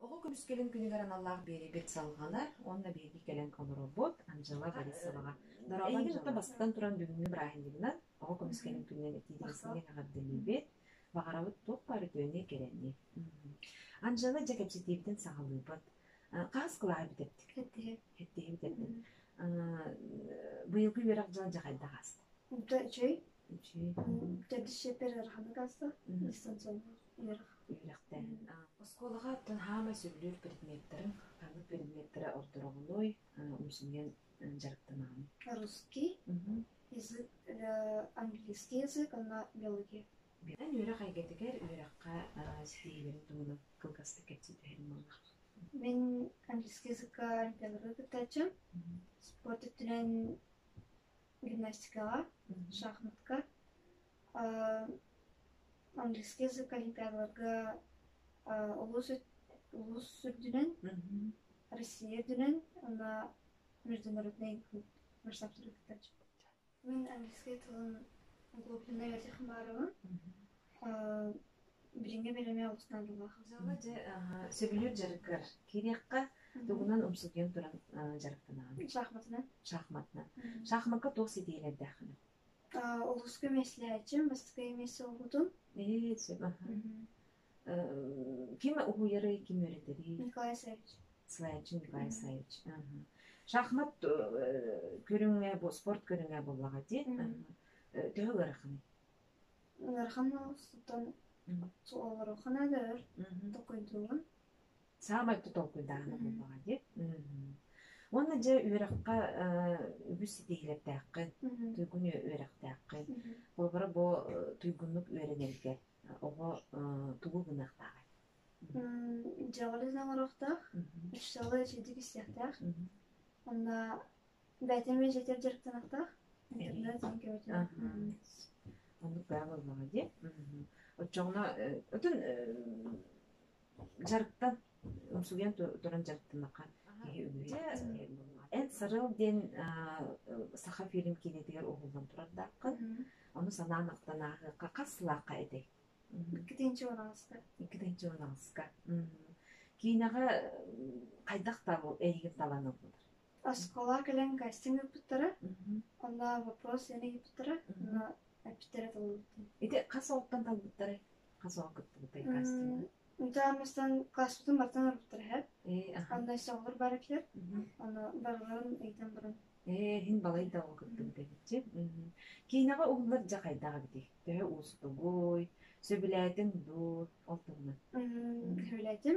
Оҕо көмүскэлин күнүгэр аналлаах биэрибит салҕаны уонна биһиги кэлэн олорорбут Анжела Борисоваҕа дорҕолоон дьылта бастатан туран бүгүҥҥү бырааһынньыгынан оҕо көмүскэлин күнүнэн этиилэрсиҥҥэ эҕэрдэлиибит баҕарабыт туох баар үтүөнү кэрэни Анжела дьэ кэпсэтиибитин саҕалыыбыт хаас кылааһы бүтэттик эттиһи бүтэттин быйылгы үөрэх дьыла дьахайдах ааста да үчүгэй Тедишепер арханыгаса, дистанционно үөрэхтээн. Оскуолаҕа аттан хаамай сүллүүр предметтарын, ханнык предметтэрэ ордороҕунуй, умсуҥуйан дьарыктанаҕын? Русский, язык, английский язык, онно биология. Эн үөрэх эйгэтигэр үөрэххэ ситиһиилэрин туһунан кылгастык кэпсиэтэһин буолла. Мен английский языкка олимпиадалары кыттаччым. Спорт өттүнэн гимнастикаҕа шахматка английский язык ахитааларга улуус улуус үрдүнэн Россия үрдүнэн уонна международнай клуб марсаптары кытта мин английский тылын клубунай этих хымааровын билиҥҥи бэлэми алгыстаан ыллаахабытын. дьэ сөбүлүүр дьарыккар киириэххэ тугунан умсугуйан туран дьарыктанаҕын шахматынан шахматынан шахматка туох ситиһиилэрдээххин олуска меслээчим бастакы эмиэс олбутун ээ сөп ким уһуйары ким үөрэтэрий николай исаевич слайчин николай исаевич шахмат көрүҥэ бу спорт көрүҥэ буоллаҕа дии төһө ыараханый Ыараханна сытан олорохана да өр толкуйдууна саамай толкуйдааҕына буоллаҕа дии уонна дьэ үөрэххэ үгүс ситиһиилэрдээххин туйгуну үөрэхтээххин холобура бу туйгуннук үөрэнэргэ оҕо тугу гыныахтааҕай дьаҕалы саҥарыахтаах ыччалар чэдик истиэхтээх онно Бээтин миэжэтир дьарыктанахтаах. Оннук баа буоллаҕа дии. Оччоҕуна отун дьарыктан умсугуйан туран дьарыктанахха киһи үгүһэ Эн сарыл диэн саха фильм киинэтигэр уһуллан турардааххын. Ону санаан ахтанаахыахха хас сылаахха этэй? Иккитинчи унаҕаска. Иккитинчи унаҕаска. Киинэҕэ хайдах табыл эйигин талан ылбытар? оскуола кэлэн кастинг ыыппыттара онно вопрос яны ыыппыттара онно эппиттэрэ толорбутум ити хас оҕоттон талбыттарай хас оҕо кыттыбытай кастинг Мутаа мастан класспытын бартан арыттар эһэт. Анна соҕур баракер. Ону барыларын ыйтан баран. Ээ, хин балайда ол кыттыбыт эбитчи. Киинэҕэ уһуллар дьа хайдаҕа бити. Төһө уустугуй, сөбүлээтиҥ дуу, ол туһунан. Сөбүлээтим.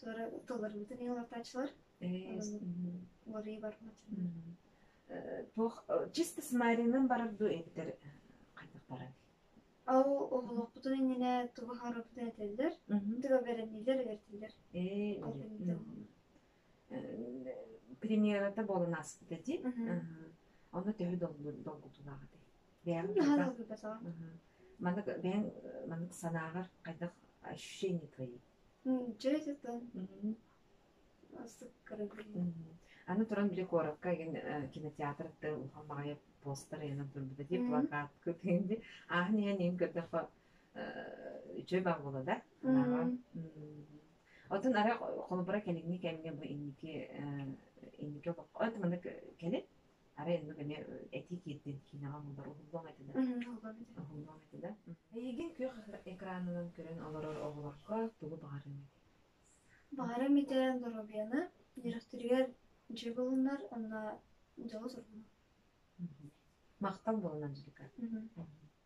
Туора тылларбытын ыллартаачылар. Уларыы барбатылар. Туох чисто с Маринын барар дуу эбитэр қайтақтара Ал олохпутун иннинэ туба харабытын этеллер, туга беренилер бертилер. Премьерата болан аспыта ди. Оны төһө долгутулаҕыты. Бэйэм Маннык бэйэң маннык санааҕар қайдах ощущения твои? М, дьэ дьэ Мгм. сыккырым Мгм. Аны туран били куоракка игин э, кинотеатр ыттар улахан баҕайы постар ыйанан турбута дии Мгм. плакатка тindi аһын ийэн ийин көрдөххө э, үчүгэй баар буола да санаабар Мгм. м оттон арай холобура кэлиҥҥи кэмҥэ бу инники э, инники олоххо это маннык кэлин Арай инник эмиэ этии киирдин киинэҕэ мундар уһуллуом этилэр. Уһуллуом этилэр. Эйигин күөх экранынан көрөн олорор оҕолорго тугу баҕарыҥ этэй? Баҕарым ити доруобуйаны үөрэхтэригэр дьиэ булунар онно дьолу сургунар. Махтал булунан дьикэ.